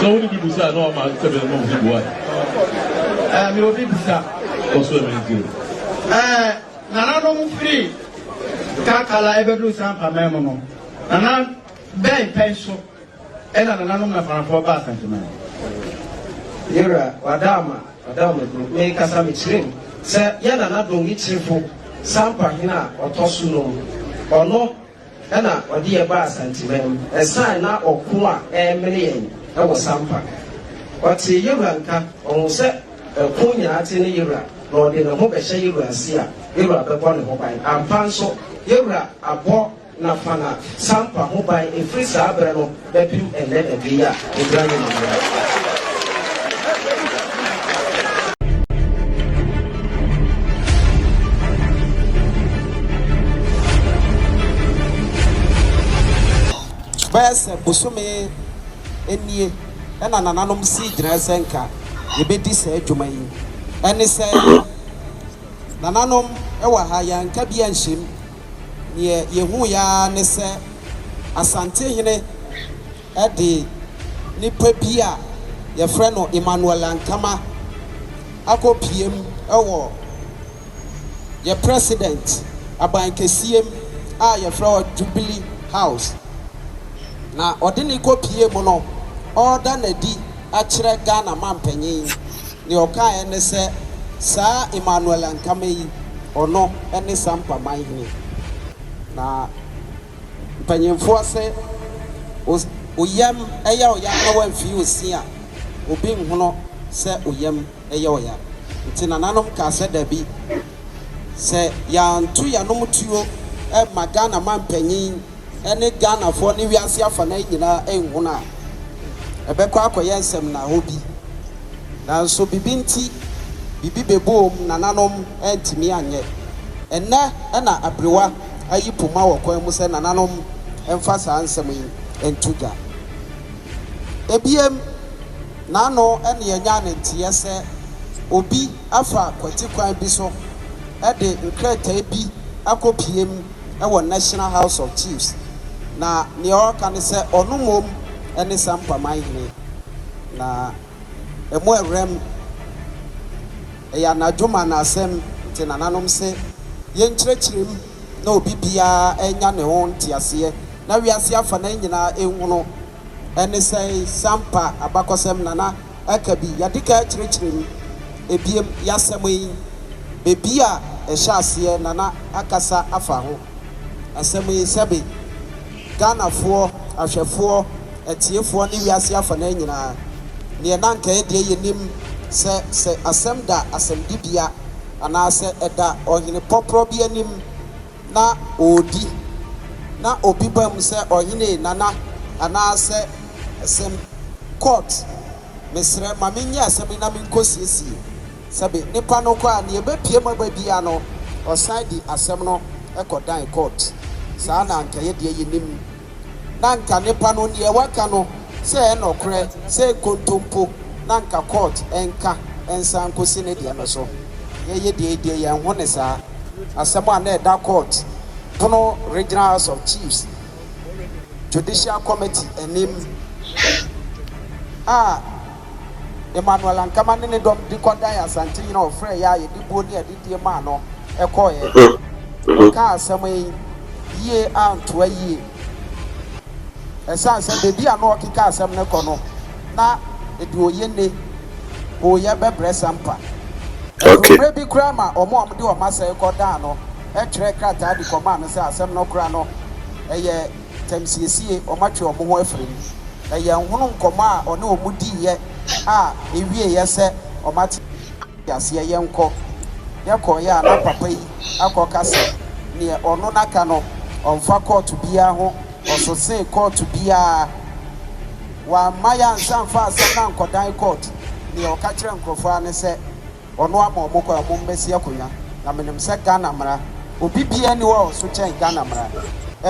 Sɛ wode bi bisa a na wama sɛ bɛn ma obi bua? Ɛɛ, mewɔ bi bisa. Kɔ so ɛmɛ nti o. Ɛɛ, nananom firi Kakala ɛbɛduru Sampaman mu no, nana bɛn pɛn so ɛna nananom Nafanafoɔ ba Asanteman? Me wura, w'adaama, w'adaama kuro, me kasa me kyerɛ mu sɛ yɛ nana Dongi Kyirifo, Sampa hene a ɔtɔ so nom, ɔno na ɔde yɛn baa Santiman mu ɛsan na ɔko a ɛremene yɛn wɔ Sampa. Ɔtee Yewura nka, ɔhuu sɛ ɛko nyinaa te ne Yewura, na ɔde ne ho bɛhyɛ Yewura ase a, Yewura bɛbɔ ne ho ban. Ampa nso, Yewura abɔ Nafana Sampa ho ban ɛfiri saa berɛ no. Bɛpem ɛnnɛ na bɛ yi a, ɛbra ne ne mmerɛ. Bɛyɛ sɛ bosome nie na nananom sii gyinaeɛ sɛ nka yɛbɛdi saa dwuma yi. Ɛne sɛ, nananom wɔ ha, yɛanka bi anhyɛ mu. Deɛ yɛhuuiɛ ara ne sɛ Asantehene de nipa bi a yɛfrɛ no Emmanuel Ankama akɔpue mu wɔ yɛ President aban kɛseɛ mu a yɛfrɛ hɔ Jubilee House. Na ɔde no rekɔpue mu no, ɔreda no adi akyerɛ Ghana Manpanin. Nea ɔkaeɛ ne sɛ, Saa Emmanuel Ankama yi, ɔno ne Sampa manhene. Na mpanyimfoɔ se os o yam yɛ ɔya na wamfii osin a, obi nhono sɛ o yam yɛ ɔya. Nti nananom kaa sɛ dabi, sɛ yɛanto yɛanom tuo amma Ghana manpanyin, ne Ghanafoɔ ne wiase afanan nyinaa nhunu a, ɛbɛkɔ akɔyɛ nsɛmnahɔ bi. Nanso biribi nti, biribi bɛboom, nananom antumi anyɛ. Ɛnnɛ na aberewa ayi poma wɔ kwan mu sɛ nananom mfa saa nsɛm yi nto dwa. Ebiem, n'ano na yɛnyaa ne nteɛ sɛ obi afa kwati kwan bi so de nkrataa bi akɔpue mu. wɔ National House of Chiefs na nea ɔreka ne sɛ ɔno mmom ne Sampa Manhene na ɛmu awuram. Ɛyɛ anadwo ma na asɛm nti nananom se yɛnkyerɛkyerɛ mu na obi biara nya ne ho nteaseɛ na wiase afanan nyinaa nhunu. Ɛne sɛn? Sampa abakɔsɛm na na ɛka bi. Yɛadikan akyerɛkyerɛ mu. Ebiem, y'asɛm yi, baabi a ɛhyɛ aseɛ na na akasa afa ho. Asɛm yi, sɛbe, Ghanafoɔ, ahwɛfoɔ, atiefoɔ ne wiase afanaa nyinaa, neɛ na anka ɛyɛ deɛ yɛnim sɛ sɛ asɛm da asɛmdibea anaasɛ ɛda ɔhene pɔprɔ bi anim na ɔredi, na obi ba mu sɛ ɔhene ee nana anaasɛ ɛsɛm court mesrɛ ma me nyɛ asɛm yi na me nkɔ siesie sɛbe nipa no kɔ a neɛ ɛbɛ pie mu aba biaa no ɔsan de asɛm no kɔ dan court saa na anka yɛdeɛ yɛnim. na anka nnepa no neɛ waka no sɛ ɛyɛ nɔkorɛ sɛ nkontompo na anka court nka nsan nkosi ne deɛ no so yɛyɛ deɛ deɛ yɛn ho ne saa asɛm a na ɛda court pono regional house of chiefs judicial committee anim a Emmanuel Ankama ne ne dɔm de kɔdan Asante Nyina a ɔfrɛɛ yɛ a yɛde buo ne adidie maa no kɔeɛ. Wɔkaa asɛm yi yie antoa yie ɛsiane sɛ baabi a na ɔkeka asɛm no kɔ no, na deɛ ɔyɛ nne ɔreyɛ bɛbrɛ Sampa. Ɛtoo mmerɛ bi koraa ma wɔn a wɔde wɔn asɛe kɔdaa no twerɛɛ krataa de kɔmaa no sɛ asɛm no koraa no, ɛyɛ. ntɛm siesie wɔn atwe wɔn ho afiri mu. Na yɛnhunu nkɔmmɔ a ɔne wɔn diiɛ a ɛwieeɛ sɛ wɔate aseɛ. Yɛnkɔ. Yɛkɔeɛ a na papa yi akɔka sɛ deɛ ɔno n'aka no ɔmfa kɔɔto biara ho ɔsosee kɔɔto biara. Wamma yɛansa mfa asɛm no ankɔdan kɔɔto. Deɛ ɔka kyerɛɛ nkurɔfoɔ ara ne sɛ Ɔno ama ɔmo kwan, ɔmo mmɛsi akonwa. Na menim sɛ Ghana mmara, obi biara nni hɔ a ɔso kyɛn Ghana mmara.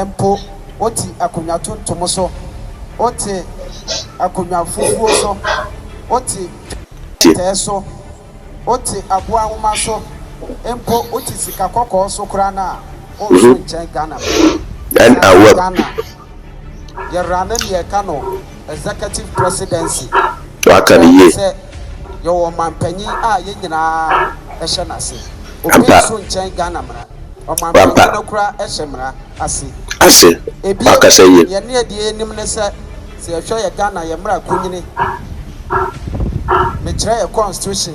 Mpo wote akonwa tuntum so, wote akonwa fufuo so, wote pɛtɛɛ so, wote aboa nwoma so, mpo wote sika kɔkɔɔ so koraa no a, wonso nkyɛn Ghana mmara. Ɛsiane sɛ Ghana. Yɛra ne nea ɛka no Executive Presidency. Waka no yie. Sɛ yɛwɔ ɔmanpanyin a yɛn nyinaa hyɛ n'ase. Obi nso nkyɛn Ghana mmara. Ɔmanpanyin no koraa hyɛ mmara ase. Ase. Wakasa yie. Ebien, yɛn deɛ yɛnim ne sɛ, sɛ yɛhwɛ yɛn Ghana yɛn mmara kunyini, mekyerɛ yɛn constitution,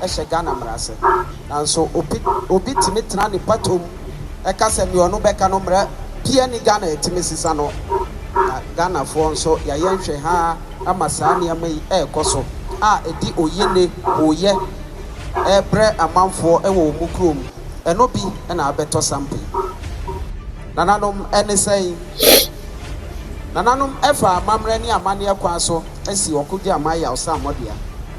hyɛ Ghana mmara ase. Nanso obi obi tumi tena ne pɔtɔ mu ka sɛ nea ɔno bɛka no mmara biara nni Ghana a ɛtumi sesa no. Na Ghanafoɔ nso yɛayɛ nhwɛhaa ama saa nneɛma yi rekɔ so a ɛde oyene, hooyɛ, rebrɛ amanfoɔ wɔ wɔn kurom. Ɛno bi na abɛtɔ sampe yi. Nananom ne sɛn? Nananom fa amammerɛ ne amanneɛ kwan so asi ɔko dwaman yawsammɔ dua.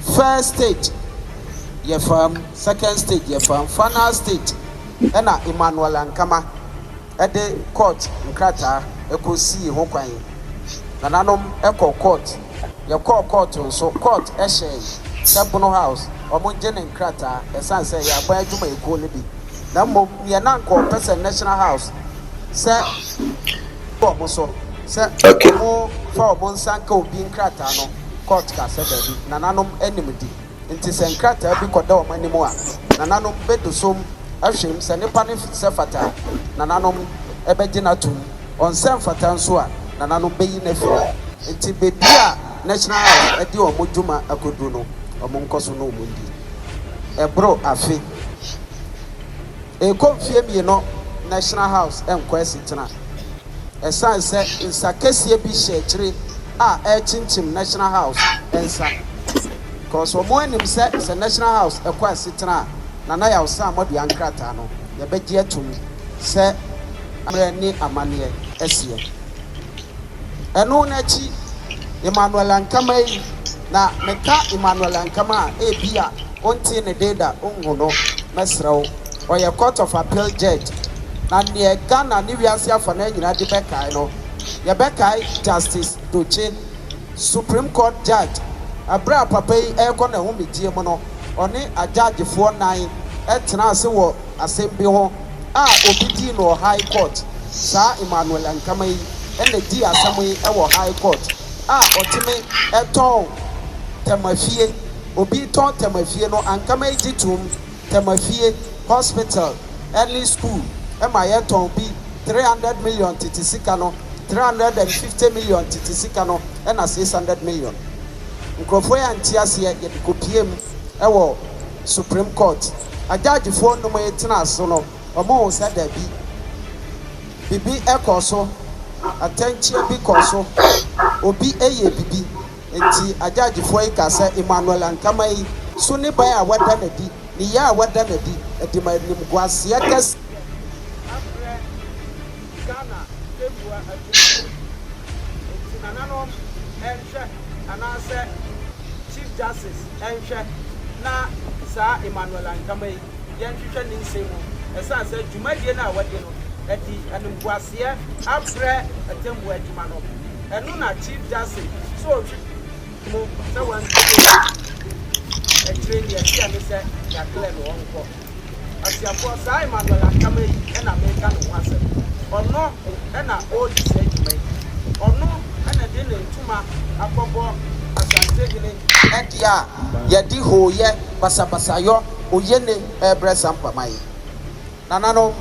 First stage yɛ fam, second stage yɛ fam, final stage na Emmanuel Ankama de court nkrataa kɔ sii ho kwan. Nananom kɔ court, yɛkɔɔ court nso, court hyɛɛ sɛ Bono House wɔn ngye ne nkrataa ɛsiane sɛ ɛyɛ aban adwumayɛkuo no bi na mmom neɛ na anka wɔpɛ sɛ National House sɛ wɔn so sɛ wɔn fa wɔn nsa nka obi nkrataa no. Kurt ka sɛ, Dabi, nananom anim di. Enti sɛ nkrataa bi kɔda wɔn anim a, nananom bedosom ahwɛm sɛ ne pa no sɛ fata a, nananom bɛgye no atom. Ɔnsɛ mfata nso a, nananom beyi no afi hɔ. Enti baabi a National House de wɔn dwuma akodu no, wɔnkɔ so na wɔndi. Ɛboro afe. Ɛrekɔ mfeɛ mmienu National House nkɔ asetena ɛsiane sɛ nsa kɛseɛ bi hyɛ akyire a ɛrekyinkyim National House nsa cos wɔn anim sɛ sɛ National House ɛkɔ asetena a Nana Yaw Sammor dea nkrataa no yɛbɛgye atum sɛ ammerɛ ne amanneɛ ɛseɛ. Ɛno no akyi, Emmanuel Ankama yi, na meka Emmanuel Ankama a, ebia wontee ne din da, wonhu no, mɛsrɛ wo, ɔyɛ Court of Appeal Judge, na neɛ Ghana ne wiase afa no ara nyinaa de bɛkae no, yɛbɛkae Justice Dotse, Supreme Court Judge, ɛberɛ a papa yi rekɔ n'ahomegyeɛ mu no, ɔne agyaagefoɔ nnan tenaa ase wɔ asɛm bi ho, a obi dii no wɔ High Court saa Emmanuel Ankama yi na dii asɛm yi wɔ High Court a ɔteme tɔn Tɛmafie obi tɔn Tɛmafie no Ankama yi gye toom Tɛmafie Hospital ne School ma yɛ tɔn bi three hundred million tete sika no three hundred and fifty million tete sika no na six hundred million nkurɔfoɔ yi ante aseɛ yɛde kɔpiee mu wɔ. Supreme Court agyaagyefɔɔ nnum yi tenaa so no, wɔhuu sɛ dabi, bibi kɔɔ so, atɛnkyea bi kɔɔ so, obi yɛɛ bibi. Nti agyaagyefɔɔ yi kaa sɛ Emmanuel Ankama yi so niban a wada no adi, ne yea a wada no adi, de ma animguaseɛ kɛseɛ abrɛ. Ghana Nyɛmmoa Adwuma hɔ nti nananom nhwɛ anaasɛ Chief Justice nhwɛ na saa Emmanuel Ankama yi yɛnhwehwɛ ne nsɛm mu. Ɛsiane sɛ dwumadie no a wadi no ɛde animguaseɛ abrɛ atɛmmuo adwuma no, ɛno na Chief Justice sɛ ɔhwe mu sɛ wantie no. Akyire yi deɛ ɛteɛ ne sɛ yɛaklɛɛ no ɔnkɔ. Ɔtiafoɔ, saa Emmanuel Ankama yi na mereka ne ho asɛm. Ɔno na ɔredi saa dwuma yi. Ɔno na de ne ntoma akɔbɔ Asantehene deɛ a yɛde hooyɛ, basabasayɔ, oyene rebrɛ saa mpama yi. Nananom,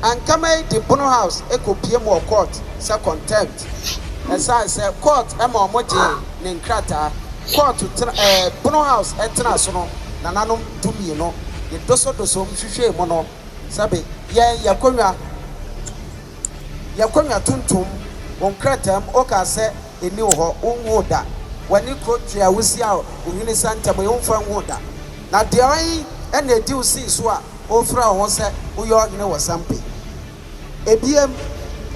Ankama yi de Bono House kɔpiam wɔ court sɛ contempt. Ɛsiane sɛ kɔɔt ma wɔgyee ne nkrataa, kɔɔt tena, ɛɛ, pono house ɛtena so no, nananom dumienu de dosodosom hwehwɛɛ mu no, sɛbe yɛn yɛ konwa, yɛ konwa tuntum, wo nkrataa mu okaa sɛ ɛnni wo hɔ, wo nhuu da, w'ani koro twea wo si a wo hwene sa ntɛm yi wo mfa nhuu da, na deɔn na ɛdi wo sii so a wo frɛ wo ho sɛ wo yɛ ɔhene wɔ Sampe. Ebiem,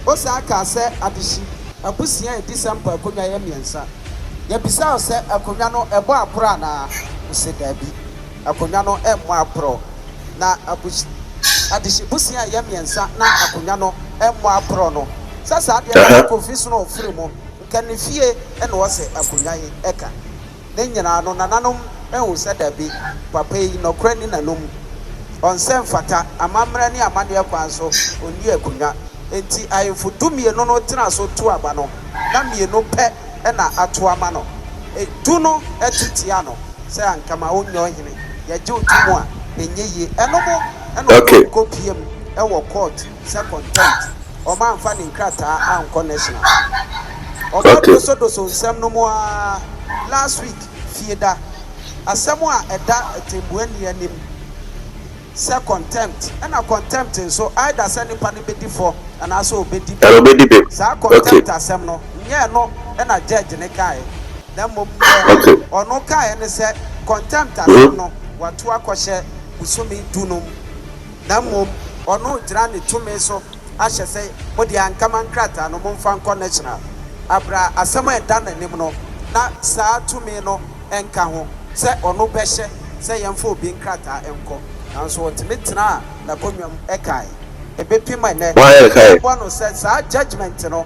Osaa kaa sɛ adehye abusua a edi Sampa akonnwa yɛ mmiɛnsa. Yɛbisaa wo sɛ akonnwa no ɛbɔ aporɔ anaa? Wo se daabi, akonnwa no mmɔ aporɔ. Na abus adehye busua a ɛyɛ mmiɛnsa na akonnwa no mmɔ aporɔ no, sɛ saa deɛ na Kofi Snow firi mu, nka ne fie na ɔsɛ akonnwa yi ka. Ne nyinaa no, nananom ahu sɛ dabi, papa yi, nɔkorɛ nni n'anom. Ɔnsɛ mfata, amammerɛ ne amanneɛ kwan so, ɔnni akonnwa. Enti ahemfo dumienu no tena so tu aba no, na mmienu pɛ na ato ama no. Du no tu tia no sɛ, Anka ma wonyɛ ɔhene. Yɛgye wo tom a, ɛnyɛ yie. Ɛno mo na ɔkɔm kɔpiam wɔ court. sɛ contempt wɔn anfa ne nkrataa ankɔ national wɔn okay. adoso doso nsɛm no mu aa last week fie da asɛm a ɛda atɛmbua ni anim sɛ contempt ɛna contempt nso either sɛ nipa no bɛdi fɔ anaasɛ ɔbɛdi bɛ saa contempt asɛm no nyɛ ɛno ɛna judge ne kaeɛ na mmom nyɛ ɔno kaeɛ ne sɛ contempt asɛm no wato akɔhyɛ bosome dunum Na mmom ɔno regyina ne tumi so ahyɛ sɛ, Mo deɛ, anka ma nkrataa no, momfa nkɔ National abra asɛm a ɛda n'anim no, na saa tumi no nka ho sɛ ɔno bɛhyɛ sɛ yɛmfa obi nkrataa nkɔ. Nanso ɔtumi tenaa n'akonnwa mu kae. Ɛbɛpem ɛnnɛ, yɛbɛbɔ no sɛ saa judgement no.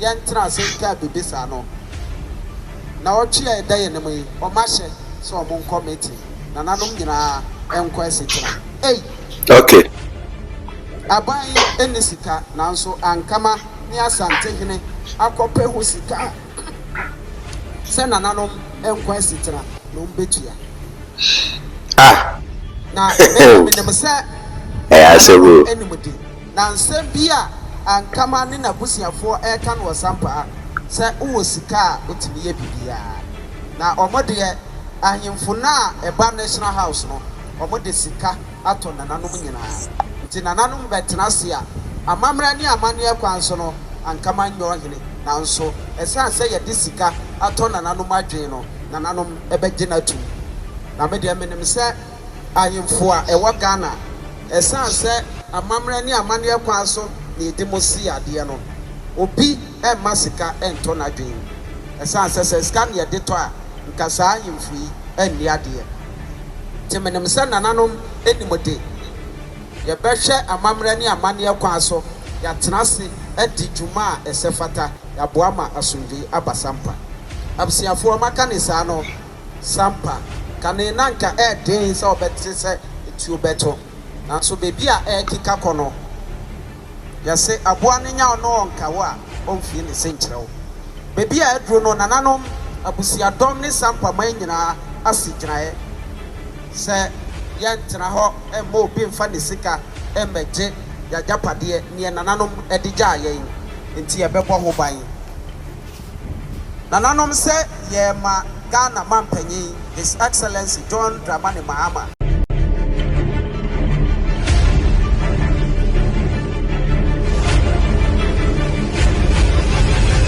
yɛntena ase ntwaa biribi saa no, nnawɔtwe a ɛda yɛn anim yi, wɔahyɛ sɛ wɔnkɔ meeting, nananom nyinaa nkɔ asetena. Ei! Okay. Aban yi nni sika, nanso Ankama ne Asantehene akɔpɛ ho sika sɛ nananom nkɔ asetena na wɔbetua. Ah! Na me na menim sɛ nananom anim de. Na nsɛm bi a Ankama ne n'abusuafoɔ reka no ɔsampaa sɛ wowɔ sika a wotumi yɛ biribiara. Na wɔn deɛ ahemfo no a ɛba National House no, wɔde sika atɔ nananom nyinaa. Nti nananom bɛtena ase a amammerɛ ne amanneɛ kwan so no Ankama nyɛ ɔhene. Nanso ɛsiane sɛ yɛde sika atɔ nananom adwene no, nananom bɛgye no atom. Na me deɛ menim sɛ Ahemfo a ɛwɔ Ghana, ɛsiane sɛ amammerɛ ne amanneɛ kwan so na yɛde mo si adeɛ no, obi mma sika ntɔ n'adwene mu. Ɛsiane sɛ sɛ sika na yɛde tɔ a, nka saa ahemfo yi nni adeɛ. Nti menim sɛ nananom nim de, yɛbɛhwɛ amammerɛ ne amanneɛ kwan so, yɛatena ase adi dwuma a ɛsɛ fata, yɛaboa ma asomdwoeɛ aba Sampa. Abusuafoɔ, maka no saa no, Sampa, kane na anka ɛyɛ den sɛ wɔbɛte sɛ etuo bɛto. Nanso baabi a ɛrekeka kɔ no, yɛse aboa no nya ɔno ɔnka wo a ɔmfie ne se nkyerɛ wo. Baabi a aduro no, nananom, abusuadɔm ne Sampa man nyinaa asi gyinaeɛ sɛ yɛntena hɔ mma obi mfa ne sika mmɛgye yɛn agyapadeɛ, neɛ nananom de gyaa yɛn nti yɛbɛbɔ ho ban. Nananom sɛ yɛrema Ghana Mampanyin His Excellency John Dramani Mahama.